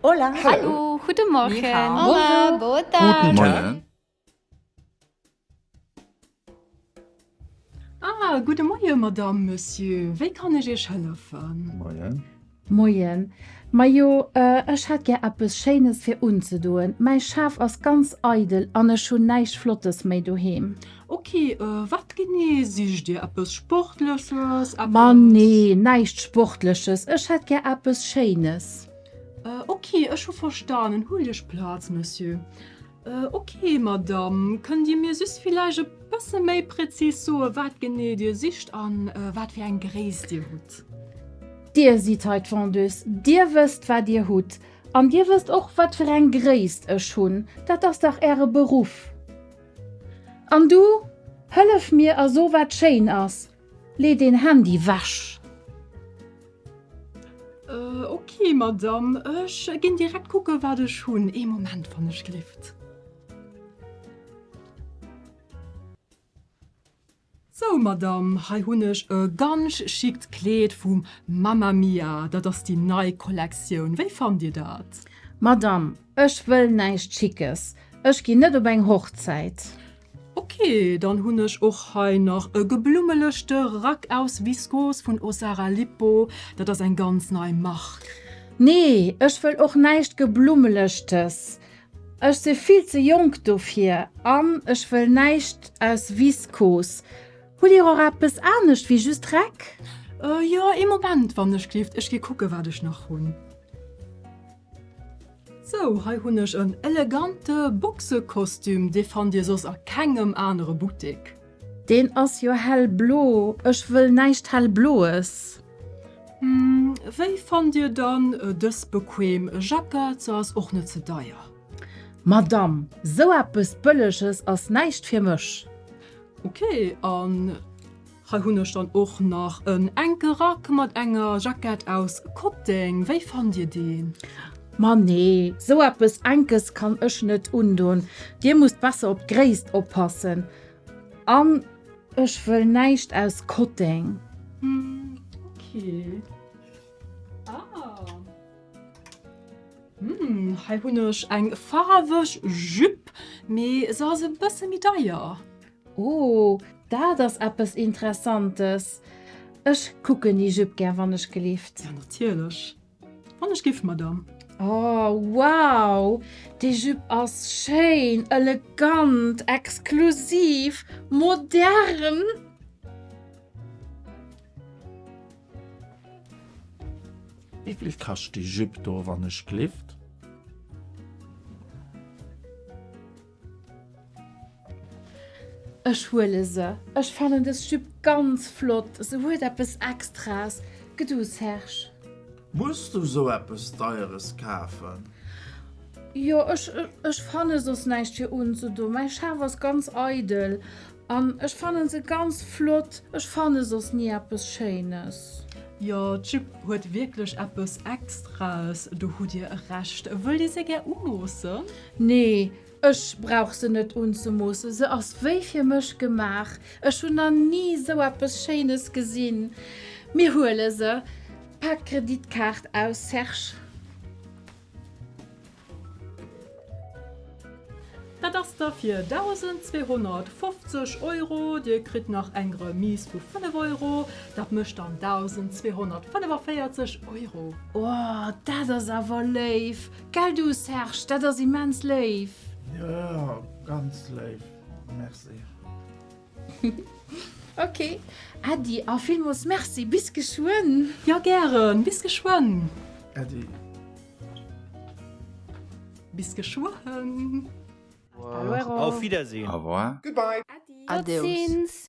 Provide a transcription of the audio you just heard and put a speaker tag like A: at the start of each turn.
A: Hola.
B: Hallo. Guten
C: Morgen.
D: Ni hao. Hola. Boa tarde. Guten Morgen. Ah, guten Morgen, Madame, Monsieur. Wéi kann ech Iech hëllefen? Moien.
C: Moien.
E: Majo, äh, ech hätt gär eppes Schéines fir unzedoen. Mäi Schaf ass ganz eidel an ech hunn näischt Flottes méi doheem. Ok, äh,
D: wat genee sicht Dir? Eppes Sportleches? Eppes. Ma nee,
E: näischt Sportleches. Ech hätt gär eppes Schéines. Euh, ok,
D: ech hu verstanen. Huelt Iech Plaz, Monsieur. Euh, ok, Madame, kënnt Dir mir just villäicht e bësse méi prezis soen, wat genee Dir sicht an euh, wat fir eng Gréisst Dir hutt? Dir
E: sidd hei d'Vendeuse, Dir wësst, wat Dir hutt an Dir wësst och, wat fir eng Gréisst ech hunn. Dat ass dach Äre Beruff. An du, hëllef mir a so, wat schéin ass, Lee den Handy weg!
D: Ok Madame, ech gin direkt kucken wat ech hun. Ee Moment wann ech gelift. Sou Madame, hei hun ech e gansch chict Kleed vum Mamma Mia, dat ass déi nei Kollektioun. Wéi fannt dir dat? Madame,
E: Ech wëll näischt Schickes. Ech ginn net op eng Hochzäit. Ok,
D: dann hunn ech och hei nach e geblummelechte Rack aus Viskos vun Ossara Lipo. Dat ass eng ganz nei Mark. Nee,
E: ech wëll och näischt Geblummelechtes. Ech si vill ze jonk dofir. An ech wëll näischt aus Viskos. Hutt Dir och eppes anescht wéi just Rack? Jo, ee
D: Moment, wann ech glifft. Ech gi kucken, wat ech nach hunn. Sou, hei hunn ech en elegante Boxekostüm, dee fannt dir soss a kengem anere Buttek. Deen ass
E: jo hellblo, ech wëll näischt hellbloes. Hm,
D: wéi fannt dir dann dës bequeem Jackett? Se ass och net ze deier. Madamm,
E: sou eppes Bëlleges ass näischt fir mech. Ok,
D: an Hei hunn ech dann och nach en enke Rack mat enger Jackett aus Kotteng. Wéi fannt dir deen? Ma nee,
E: sou eppes Enkes kann ech net undon. Dir musst besser op d'Gréisst oppassen. An ech wëll näischt aus Kotteng. Okay.
D: Ah. Hm, hei hunn ech eng faarweg Jupe, mee se ass e bësse méi deier. Oh,
E: dat ass eppes Interessantes! Ech kucken déi Jupe gär, wann ech gelift. Ja, natierlech,
D: wann ech giff, Madame. Oh,
E: wow! Déi Jupe ass schéin, elegant, exklusiv, modern!
C: Wéi vill kascht déi Jupe do, wann ech gelift?
E: Ech huele se. Ech fannen des Jupe ganz flott, se huet eppes Extraes, gëtt du Serge? Muss du
F: sou eppes Deieres kafen?
E: Jo, ech fanne soss näischt fir unzedoen. Mäi Schaf ass ganz eidel. An ech fannen se ganz flott. Ech fanne soss nie eppes schéines. Jo d'Jupe
D: huet wierklech eppes extraes, do hutt dir Recht. Wëll dir se gär umoossen? Nee
E: ech brauch se net unzemoossen, se ass wéi fir mech gemaach. Ech hunn na nie esou eppes schéines gesinn. Mir huele se. Pak Kreditkaart aus Serge.
D: Dat ass da fir 1.250 Euro. Dir kritt nach eng Remise vu 5 Euro. Dat mécht dann 1.245 Euro. Oh, dat
E: ass awer léif! Gell du, Serge, dat ass immens léif! Jo,
F: ganz léif. Merci.
E: Ok Äddi, a villmools Merci! Bis geschwënn! Jo gären,
D: bis geschwënn! Äddi. Bis geschwënn!
A: Au
G: revoir! Auf
H: Wiedersehen! Au
D: revoir! Goodbye!
A: Äddi! Adéus!
G: Tot sinn s!